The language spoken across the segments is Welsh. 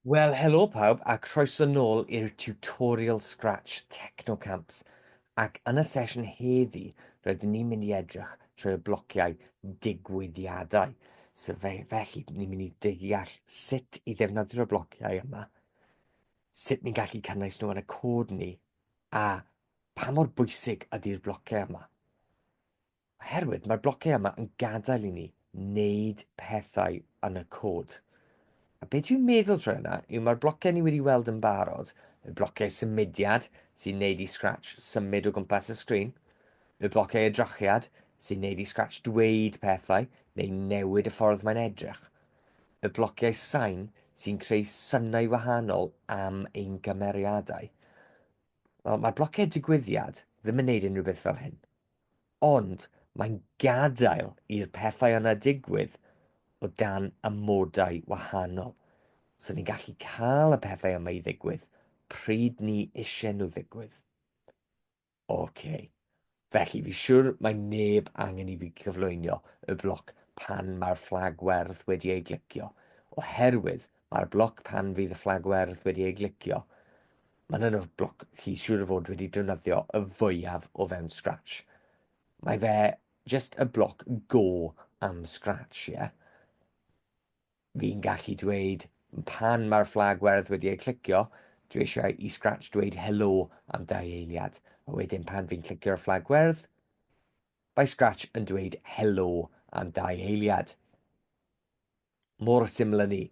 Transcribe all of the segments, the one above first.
Wel helo pawb a croeso nôl i'r tutorial Scratch Technocamps ac yn y sesiwn heddi rydyn ni'n mynd i edrych trwy y blociau digwyddiadau. So fe, felly ni'n mynd i deall sut i ddefnyddio'r blociau yma, sut ni'n gallu cynnwys nhw yn y cod ni a pa mor bwysig ydy'r blociau yma. Oherwydd mae'r blociau yma yn gadael i ni wneud pethau yn y cod. A beth dwi'n meddwl trwy hynna yw mae'r blociau ni wedi weld yn barod, y blociau symudiad sy'n neud i Scratch symud o gwmpas y sgrin, y blociau edrychiad sy'n neud i Scratch dweud pethau neu newid y ffordd mae'n edrych, y blociau sain sy'n creu synau wahanol am ein cymeriadau. Wel, mae'r blociau digwyddiad ddim yn neud unrhyw beth fel hyn. ond mae'n gadael i'r pethau yna digwydd o dan amodau wahanol. So ni'n gallu cael y pethau yma i ddigwydd pryd ni eisiau nhw ddigwydd. OK. Felly, fi siwr mae neb angen i fi gyflwynio y bloc pan mae'r fflag werdd wedi ei glicio, oherwydd mae'r bloc pan fydd y fflag werdd wedi ei glicio Mae'n un o'r bloc chi siŵr o fod wedi defnyddio y fwyaf o fewn Scratch. Mae fe just y bloc go am Scratch, ie? Yeah? Fi'n gallu dweud pan mae'r fflag werdd wedi ei clicio, dwi eisiau i Scratch dweud helo am dau eiliad. A wedyn pan fi'n clicio'r fflag werdd, mae Scratch yn dweud helo am dau eiliad. Mor syml â 'ny.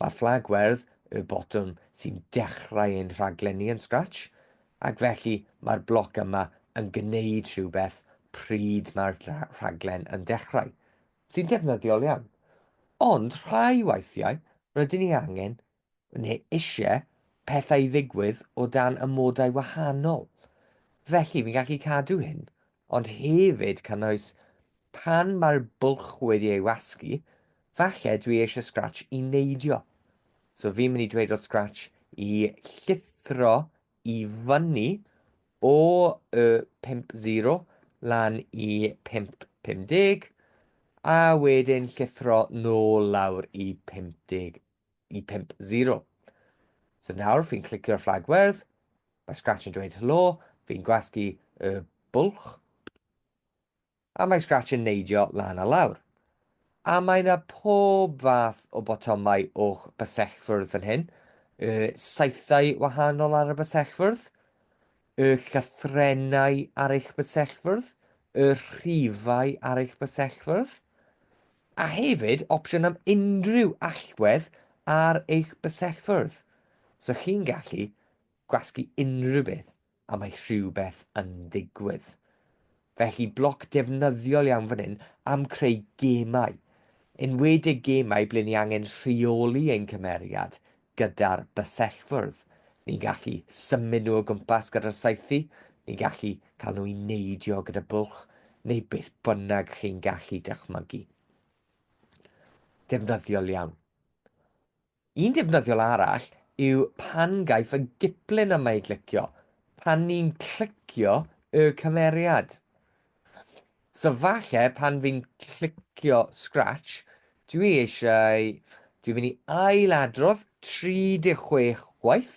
Mae fflag werdd yw'r botwm sy'n dechrau ein rhaglenni yn Scratch, ac felly mae'r bloc yma yn gwneud rhywbeth pryd mae'r rhaglen yn dechrau, sy'n ddefnyddiol iawn. Ond rhai weithiau rydyn ni angen Ni eisiau pethau i ddigwydd o dan amodau wahanol, felly fi'n gallu cadw hyn, ond hefyd cynnwys pan mae'r bwlch wedi ei wasgu, falle dwi eisiau Scratch i neidio. So fi'n mynd i dweud wrth Scratch i llithro i fyny o y 50 lan i 550, a wedyn llithro nôl lawr i 50 i 50. So nawr fi'n clicio'r fflag werdd, mae Scratch yn dweud helo, fi'n gwasgu y bwlch, a mae Scratch yn neidio lan a lawr. A mae yna pob fath o botomau o'ch bysellfwrdd fan hyn, y saethau wahanol ar y bysellfwrdd, y llythrenau ar eich bysellfwrdd, y rhifau ar eich bysellfwrdd, a hefyd opsiwn am unrhyw allwedd ar eich bysellfwrdd, so chi'n gallu gwasgu unrhyw beth a mae rhywbeth yn digwydd. Felly bloc defnyddiol iawn fan hyn am creu gemau, enwedig gemau ble ni angen rheoli ein cymeriad Gyda'r bysellfwrdd, ni'n gallu symud nhw o gwmpas gyda'r saethu, ni'n gallu cael nhw i neidio gyda bwlch, neu beth bynnag chi'n gallu dychmygu. Defnyddiol iawn. Un defnyddiol arall yw pan gaiff y giplun yma ei glicio, pan ni'n clicio y cymeriad. So falle pan fi'n clicio scratch, dwi eisiau, dwi'n mynd i ail adrodd 36 gwaith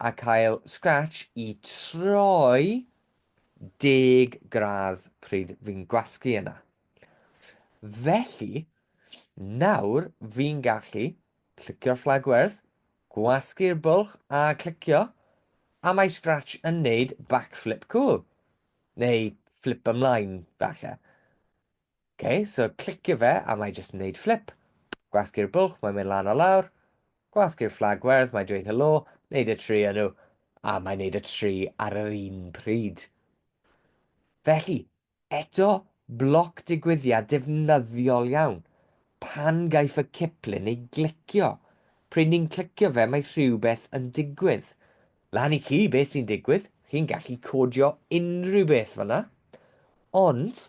a cael scratch i troi deg gradd pryd fi'n gwasgu yna. Felly, nawr fi'n gallu clicio'r fflag werdd, gwasgu'r bwlch a clicio, a mae Scratch yn neud backflip cool. Neu fflip ymlaen, falle. OK, so clicio fe a mae jyst yn neud fflip. Gwasgu'r bwlch, mae'n mynd lan o lawr. Gwasgu'r fflag werdd, mae'n dweud helo, neud y tri nhw, a mae'n neud y tri ar yr un pryd. Felly, eto, bloc digwyddiad defnyddiol iawn. Pan gaiff y ciplun ei glicio, pryd ni'n clicio fe mae rhywbeth yn digwydd. Lan i chi beth sy'n digwydd, chi'n gallu codio unrhyw beth fanna, ond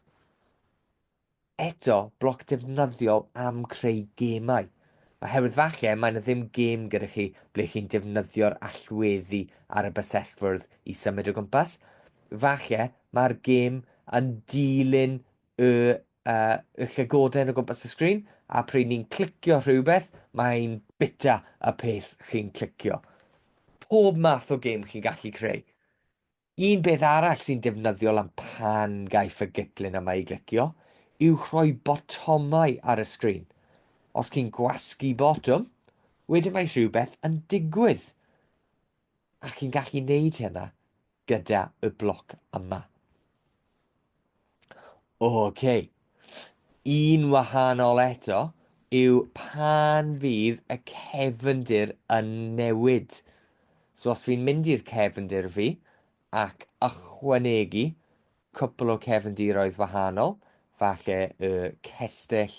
eto bloc defnyddiol am creu gemau. Oherwydd falle mae yna ddim gêm gyda chi ble chi'n defnyddio'r allweddi ar y bysellfwrdd i symud o gwmpas. Falle mae'r gêm yn dilyn y y llygoden o gwmpas y sgrin a pryd ni'n clicio rhywbeth mae'n bita y peth chi'n clicio. Pob math o gêm chi'n gallu creu. Un beth arall sy'n defnyddiol am pan gaiff y giplyn yma ei glicio yw rhoi botomau ar y sgrin. Os chi'n gwasgu botwm, wedyn mae rhywbeth yn digwydd. A chi'n gallu neud hynna gyda y bloc yma. Ok. Un wahanol eto yw pan fydd y cefndir yn newid. So os fi'n mynd i'r cefndir fi ac ychwanegu cwpl o cefndiroedd wahanol, falle y cestyll,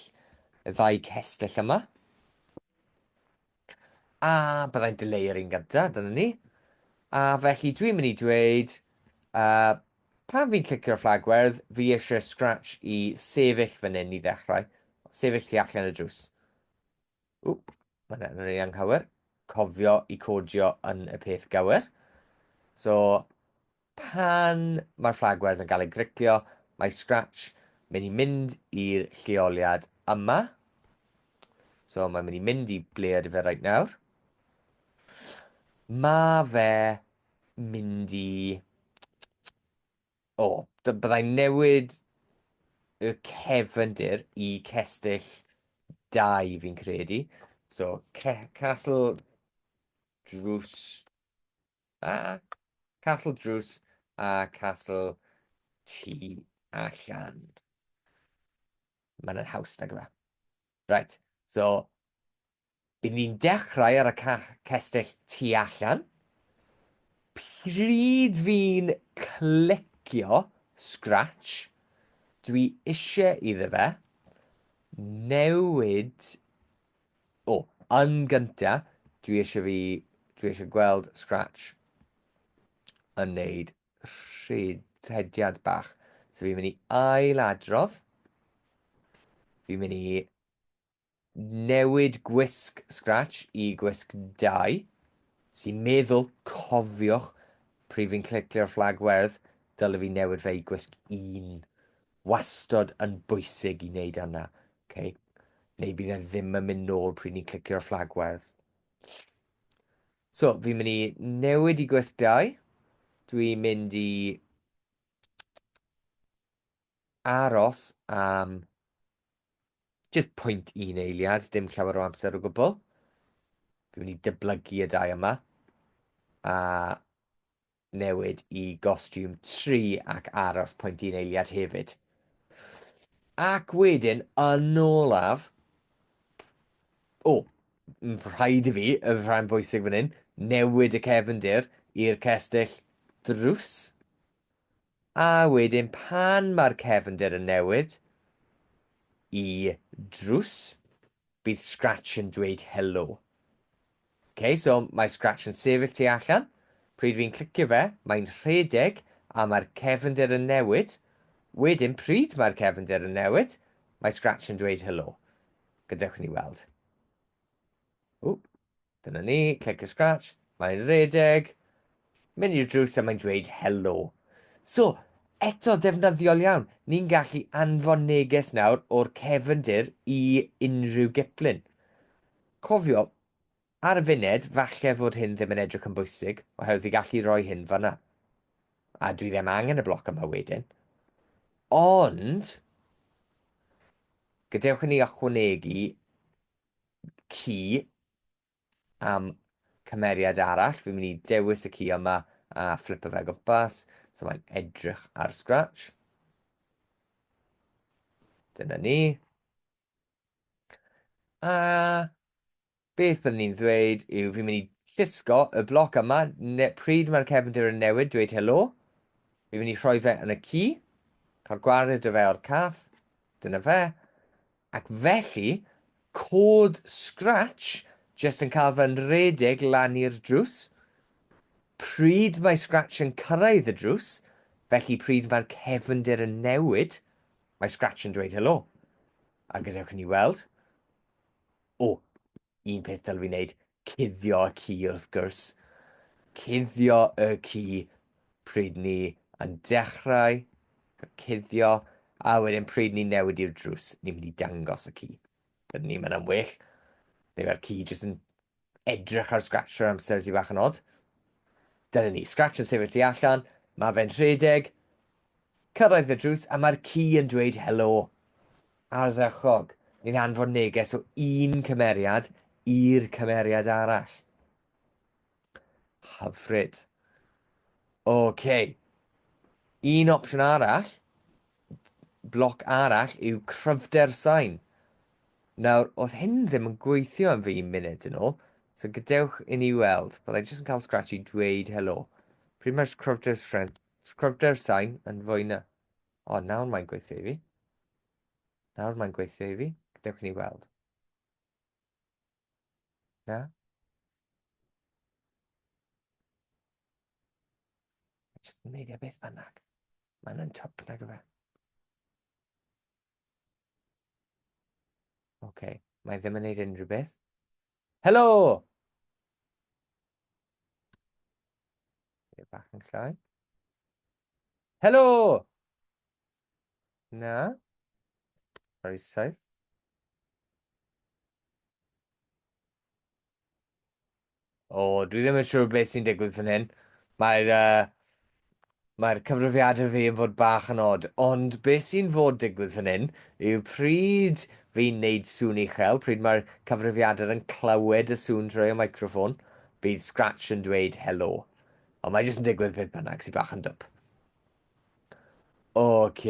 y ddau cestyll yma, A byddai'n dileu'r un gyntaf, dyna ni. A felly dwi'n mynd i dweud, uh, pan fi'n clicio'r fflagwerdd, fi eisiau Scratch i sefyll fan hyn i ddechrau. Sefyll ti allan y drws. Wp, mae'n yn ei anghywir. Cofio i codio yn y peth gywir. So, Pan mae'r fflag werdd yn cael ei griclio, mae Scratch mynd i mynd i'r lleoliad yma. So mae'n mynd i mynd i ble ydy fe right nawr. Mae fe mynd i... O, oh, byddai'n newid y cefndir i cestyll 2 fi'n credu. So, Castle Drws a Castle Drws a Castle Tu Allan. Mae'n yr haws nag yma. Right, so, bydd ni'n dechrau ar y cestyll tu allan. Pryd fi'n clicio Scratch, dwi eisiau iddo fe newid O! Yn gynta, dwi eisiau fi... dwi eisiau gweld Scratch yn neud rhediad bach. So fi'n mynd i ail-adrodd. Fi'n mynd i newid gwisg Scratch i gwisg dau, sy'n meddwl, cofiwch, pryd fi'n clicio'r fflag werdd, dylai fi newid fe i gwisg un. wastad yn bwysig i wneud yna, okay? neu bydd e ddim yn mynd nôl pryd ni'n clicio'r fflag werdd. So, fi'n mynd i newid i gwesg 2. Dwi'n mynd i aros am just pwynt un eiliad, dim llawer o amser o gwbl. Dwi'n mynd i dyblygu y dau yma. A newid i gostiwm tri ac aros pwynt un eiliad hefyd. Ac wedyn, yn olaf, o, rhaid i fi, y rhan bwysig fan hyn, newid y cefndir i'r cestyll drws. A wedyn pan mae'r cefndir yn newid i drws, Bydd Scratch yn dweud helo. Ok, so mae Scratch yn sefyll tu allan. Pryd fi'n clicio fe, mae'n rhedeg a mae'r cefnder yn newid. Wedyn, pryd mae'r cefnder yn newid, mae Scratch yn dweud helo. Gadewch ni weld. Ww, Dyna ni, click a scratch, mae'n redeg, mynd i'r drws a mae'n dweud helo. So, eto defnyddiol iawn, ni'n gallu anfon neges nawr o'r cefndir i unrhyw giplun. Cofio, ar y funed, falle fod hyn ddim yn edrych yn bwysig, oherwydd fi gallu rhoi hyn fanna. A dwi ddim angen y bloc yma wedyn. Ond, gadewch i ni ychwanegu ci am cymeriad arall. Fi'n mynd i dewis y ci yma a flipo fe gwmpas. So mae'n edrych ar Scratch. Dyna ni. A beth byddwn ni'n ddweud yw fi'n mynd i llusgo y bloc yma. Ne, pryd mae'r cefndir yn newid, dweud helo. Fi'n mynd i rhoi fe yn y ci. Cael gwared y fe o'r cath. Dyna fe. Ac felly, cod Scratch jyst yn cael fy nrhedeg lan i'r drws. Pryd mae Scratch yn cyrraedd y drws, felly pryd mae'r cefndir yn newid, mae Scratch yn dweud helo. A gadewch i ni weld. O, un peth dylwn i wneud, cuddio y ci wrth gwrs. Cuddio y ci pryd ni yn dechrau cuddio, a wedyn pryd ni'n newid i'r drws, ni'n mynd i dangos y ci. Dydyn ni'n mynd am well, neu mae'r ci jyst yn edrych ar Scratcher amser sy'n fach yn od. Dyna ni, Scratcher sefyll tu allan, mae fe'n rhedeg, Cyrraedd y drws a mae'r ci yn dweud helo. Ardderchog! Ni'n anfon neges o un cymeriad i'r cymeriad arall. Hyfryd. OK. Un opsiwn arall, bloc arall, yw cryfder sain. Nawr, oedd hyn ddim yn gweithio yn fi munud yn ôl, so gadewch i ni weld. Byddai jyst yn cael scratch i dweud helo. Pretty much cryfder strength Sgrifftau'r sain yn fwy na... O, nawr mae'n gweithio i fi. Nawr mae'n gweithio i fi. Dewch ni weld. Na? Just yn neidio beth bynnag. Mae'n yn twp nag yma. Oce, okay. mae ddim yn neud unrhyw beth. Helo! Ie, bach yn llai. Helo! Na? Very safe. O, dwi ddim yn siŵr beth sy'n digwydd fan hyn. Mae'r uh, Mae'r cyfrifiad yn fi yn fod bach yn od, ond be sy'n fod digwydd fan hyn yw pryd fi'n neud sŵn uchel, pryd mae'r cyfrifiadur yn clywed y sŵn drwy y microffon, bydd Scratch yn dweud helo. Ond mae jyst yn digwydd beth bynnag, sy'n bach yn dwp. Ok,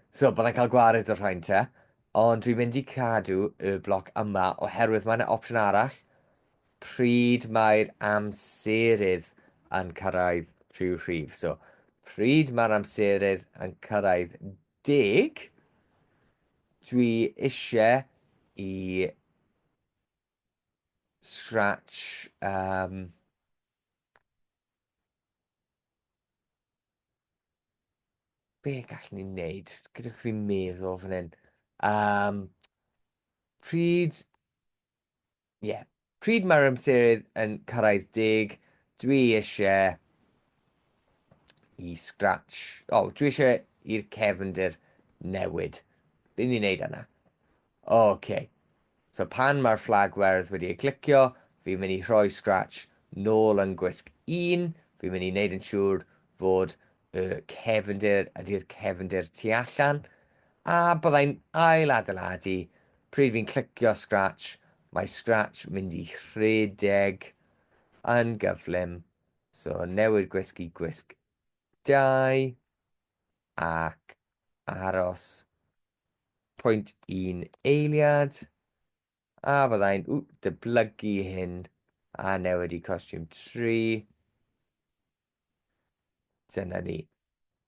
so byddai'n cael gwared o'r rhain te, ond dwi'n mynd i cadw y bloc yma oherwydd mae yna opsiwn arall pryd mae'r amserydd yn cyrraedd rhyw rhif. So, pryd mae'r amserydd yn cyrraedd deg, dwi eisiau i Scratch um, be gallwn ni'n neud? Gydwch fi meddwl fan hyn. Um, pryd Ie. Pryd mae'r amserydd yn cyrraedd deg, dwi isie i Scratch... O, dwi isie i'r cefndir newid. Be ni'n neud yna? O, oce. So pan mae'r fflag werdd wedi ei glicio, fi'n mynd i rhoi Scratch nôl yn gwisg un, fi'n mynd i neud yn siŵr fod y cefndir ydy'r cefndir tu allan, a byddai'n ail adeiladu, pryd fi'n clicio scratch, mae scratch mynd i rhedeg yn gyflym, so newid gwisg i gwisg 2, ac aros pwynt un eiliad, a byddai'n dyblygu hyn, a newid i costiwm 3, Dyna ni.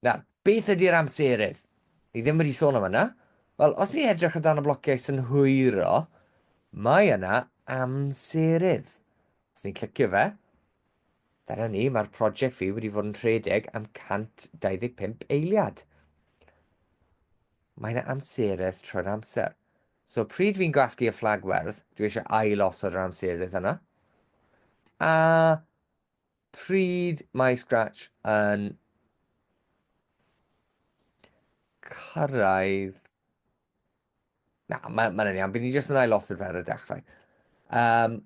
Nawr, beth ydy'r amserydd? Ni ddim wedi sôn am yna. Wel, os ni edrych o dan y blociau synhwyro, mae yna amserydd. Os ni'n clicio fe, dyna ni, mae'r prosiect fi wedi fod yn rhedeg am 125 eiliad. Mae yna amserydd trwy'r amser. So, pryd fi'n gwasgu y fflag werdd, dwi eisiau ail osod yr amserydd yna. A Pryd mae Scratch yn cyrraedd... Na, mae'n ma iawn. Bydd ni jyst yn ailosod fe ar y dechrau. Um,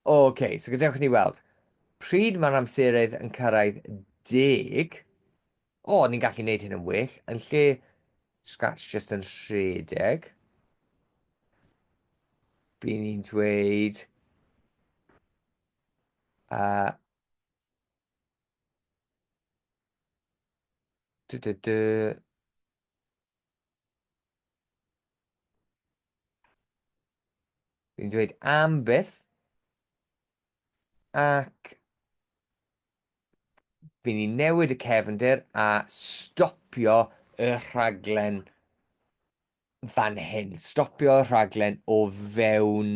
Oce, okay, so gadewch ni weld. Pryd mae'r amseroedd yn cyrraedd deg, o, oh, ni'n gallu gwneud hyn yn well, yn lle scratch just yn rhedeg. Bydd ni'n dweud... A... Dw, dw, dw. Dwi'n dweud am byth. Ac... Fy ni newid y cefndir a stopio y rhaglen fan hyn, stopio y rhaglen o fewn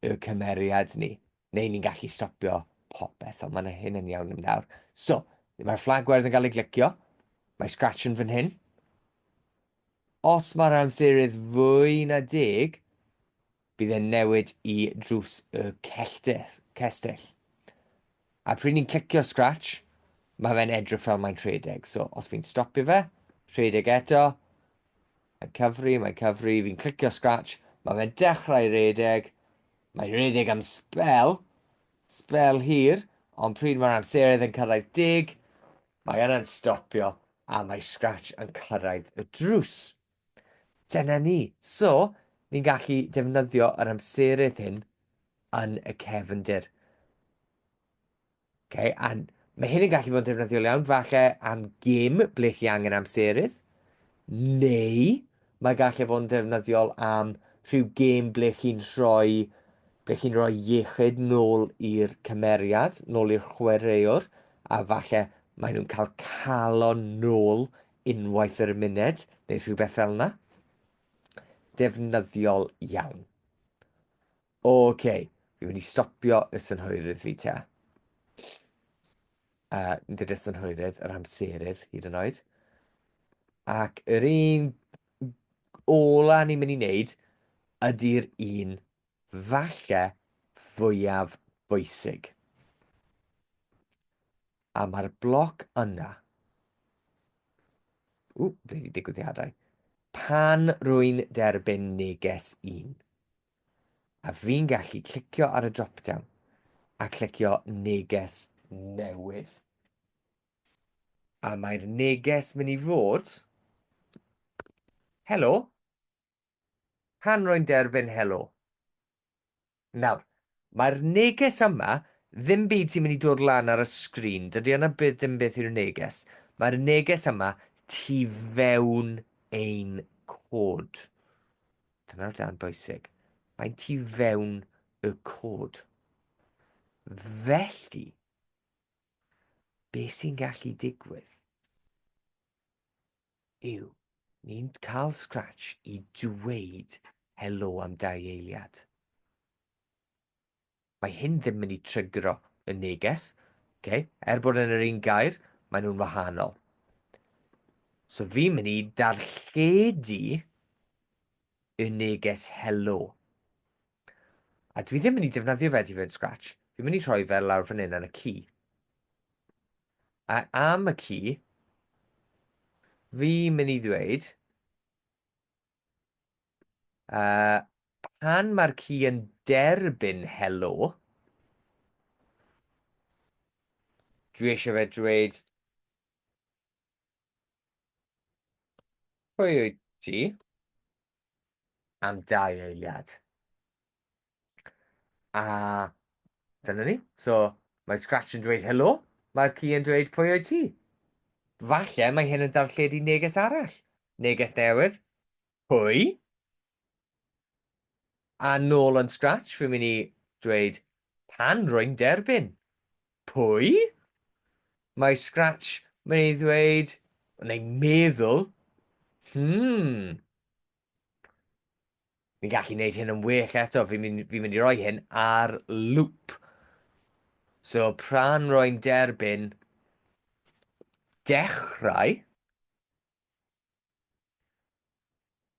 y cymeriad ni, neu ni'n gallu stopio popeth, ond mae'n hyn yn iawn yn nawr. So, mae'r fflag werdd yn cael ei glicio, mae Scratch yn fan hyn. Os mae'r amserydd fwy na deg, Bydd e'n newid i drws y cestyll. A pryd ni'n clicio scratch, mae fe'n edrych fel mae'n rhedeg. So, os fi'n stopio fe, rhedeg eto, mae'n cyfri, mae'n cyfri, fi'n clicio scratch, mae fe'n dechrau rhedeg, mae'n rhedeg am spel, spel hir, ond pryd mae'r amseroedd yn cyrraedd dig, mae yna'n stopio a mae scratch yn cyrraedd y drws. Dyna ni. So, ni'n gallu defnyddio yr amserydd hyn yn y cefndir. Okay, a mae hyn yn gallu fod yn defnyddiol iawn, falle am gym ble chi angen amserydd, neu mae gallu fod yn defnyddiol am rhyw gym ble chi'n rhoi, ble chi'n rhoi iechyd nôl i'r cymeriad, nôl i'r chwaraewr, a falle maen nhw'n cael calon nôl unwaith yr muned neu rhywbeth fel yna. Defnyddiol iawn. Oce, okay. fi'n mynd i stopio y synhwyrydd fi te. Uh, nid y synhwyrydd, yr amserydd hyd yn oed. Ac yr un ola ni'n mynd i wneud ydy'r un falle fwyaf bwysig, a mae'r bloc yna, ww, ble wedi digwyddiadau, pan rwy'n derbyn neges un, a fi'n gallu clicio ar y drop-down a clicio neges newydd. A mae'r neges mynd i fod, Helo, pan rwy'n derbyn helo. Nawr, mae'r neges yma, ddim byd sy'n mynd i dod lan ar y sgrin, dydy yna byth dim beth yw'r neges, mae'r neges yma tu fewn ein cod. Dyna'r dan bwysig. Mae'n tu fewn y cod. Felly, be sy'n gallu digwydd? yw, ni'n cael scratch i dweud helo am dau eiliad. Mae hyn ddim yn i trygro y neges, okay? er bod yn yr un gair, maen nhw'n wahanol. So fi'n mynd i darlledu y neges helo. A dwi ddim yn mynd i defnyddio fe i fod scratch. Fi'n mynd i rhoi fe lawr fan hyn ar y ci. A am y ci, fi mynd i ddweud, uh, pan mae'r ci yn derbyn helo, dwi eisiau fe dweud, pwy wyt ti? Am dau eiliad. A dyna ni. So, mae Scratch yn dweud helo, mae'r ci yn dweud pwy oed ti? Falle mae hyn yn darlledu neges arall. Neges newydd. Pwy? A nôl yn Scratch, fi'n mynd i dweud pan rwy'n derbyn. Pwy? Mae Scratch mynd i ddweud, neu meddwl, hmm, Fi'n gallu gwneud hyn yn well eto, fi'n mynd, fi mynd i roi hyn ar loop. So, pra'n roi'n derbyn dechrau,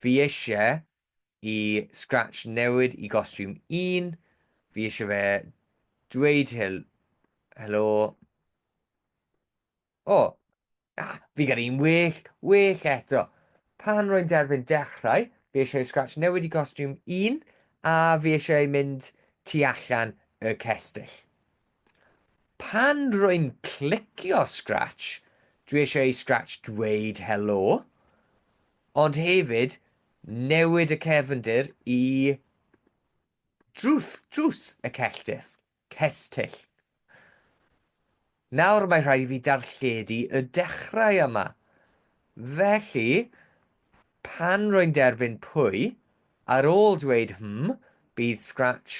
fi eisiau i Scratch newid i gostiwm 1, fi eisiau fe dweud hel helo, O! Na, fi gyda un well, well eto. Pan rwy'n derbyn dechrau, fi eisiau scratch newid i costiwm un a fi eisiau mynd tu allan y cestyll. Pan rwy'n clicio scratch, dwi eisiau i scratch dweud helo, ond hefyd newid y cefndir i drws, drws y celltith. Cestyll. Nawr mae rhaid i fi darlledu y dechrau yma. Felly, pan rwy'n derbyn pwy, ar ôl dweud hmm, bydd Scratch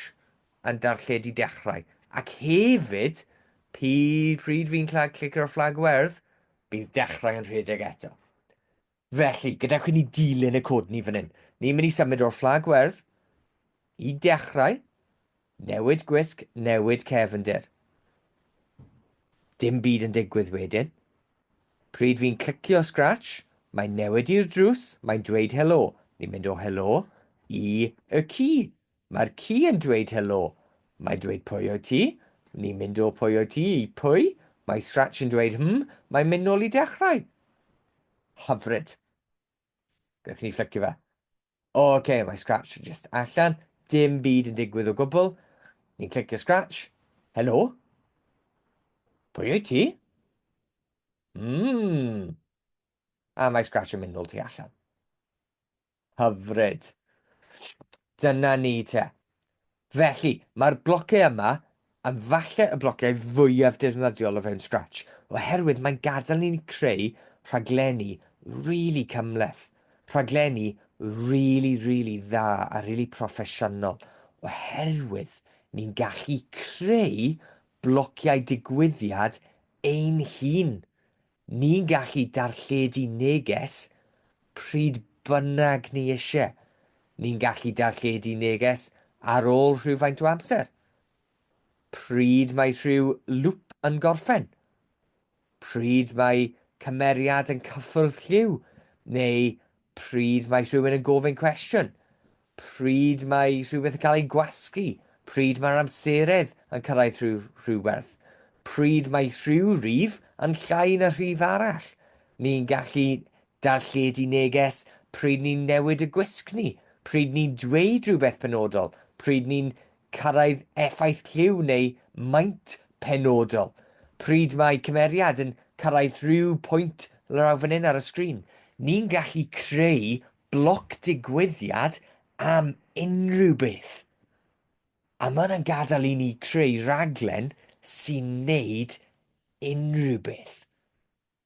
yn darlledu dechrau. Ac hefyd, pi, pryd fi'n clicio'r fflag werdd, bydd dechrau yn rhedeg eto. Felly, gadewch i ni dilyn y cod ni fan hyn. Ni'n mynd i symud o'r fflag werdd, i dechrau, newid gwisg, newid cefndir. Dim byd yn digwydd wedyn. Pryd fi'n clicio scratch, mae'n newid i'r drws, mae'n dweud helo. Ni'n mynd o helo i y ci. Mae'r ci yn dweud helo. Mae dweud pwy wyt ti? Ni'n mynd o pwy wyt ti i pwy. Mae Scratch yn dweud hm, mae'n mynd nôl i dechrau. Hyfryd. Gallwch ni fflicio fe. O, oce, okay, mae Scratch just allan. Dim byd yn digwydd o gwbl. Ni'n clicio Scratch. Helo? Pwy wyt ti? Mmm. A mae Scratch yn mynd nôl tu allan. Hyfryd. Dyna ni te. Felly, mae'r blociau yma yn falle y blociau fwyaf dirnyddiol o fewn Scratch, oherwydd mae'n gadael i ni creu rhaglenni rili cymhleth, rhaglenni rili, rili dda a rili proffesiynol, oherwydd ni'n gallu creu blociau digwyddiad ein hun Ni'n gallu darlledu neges pryd bynnag ni isie. Ni'n gallu darlledu neges ar ôl rhywfaint o amser, pryd mae rhyw lŵp yn gorffen, pryd mae cymeriad yn cyffwrdd lliw, neu Pryd mae rhywun yn gofyn cwestiwn? Pryd mae rhywbeth yn cael ei gwasgu? Pryd mae'r amseredd yn cyrraedd rhyw rhywberth? Pryd mae rhyw rif yn llai na rhif arall? Ni'n gallu darlledu neges pryd ni'n newid y gwisg ni, pryd ni'n dweud rhywbeth penodol, pryd ni'n cyrraedd effaith lliw neu maint penodol. Pryd mae cymeriad yn cyrraedd rhyw pwynt lawr fan hyn ar y sgrin, ni'n gallu creu bloc digwyddiad am unrhyw beth. A mae hwnna'n gadael i ni creu rhaglen sy'n neud unrhyw beth.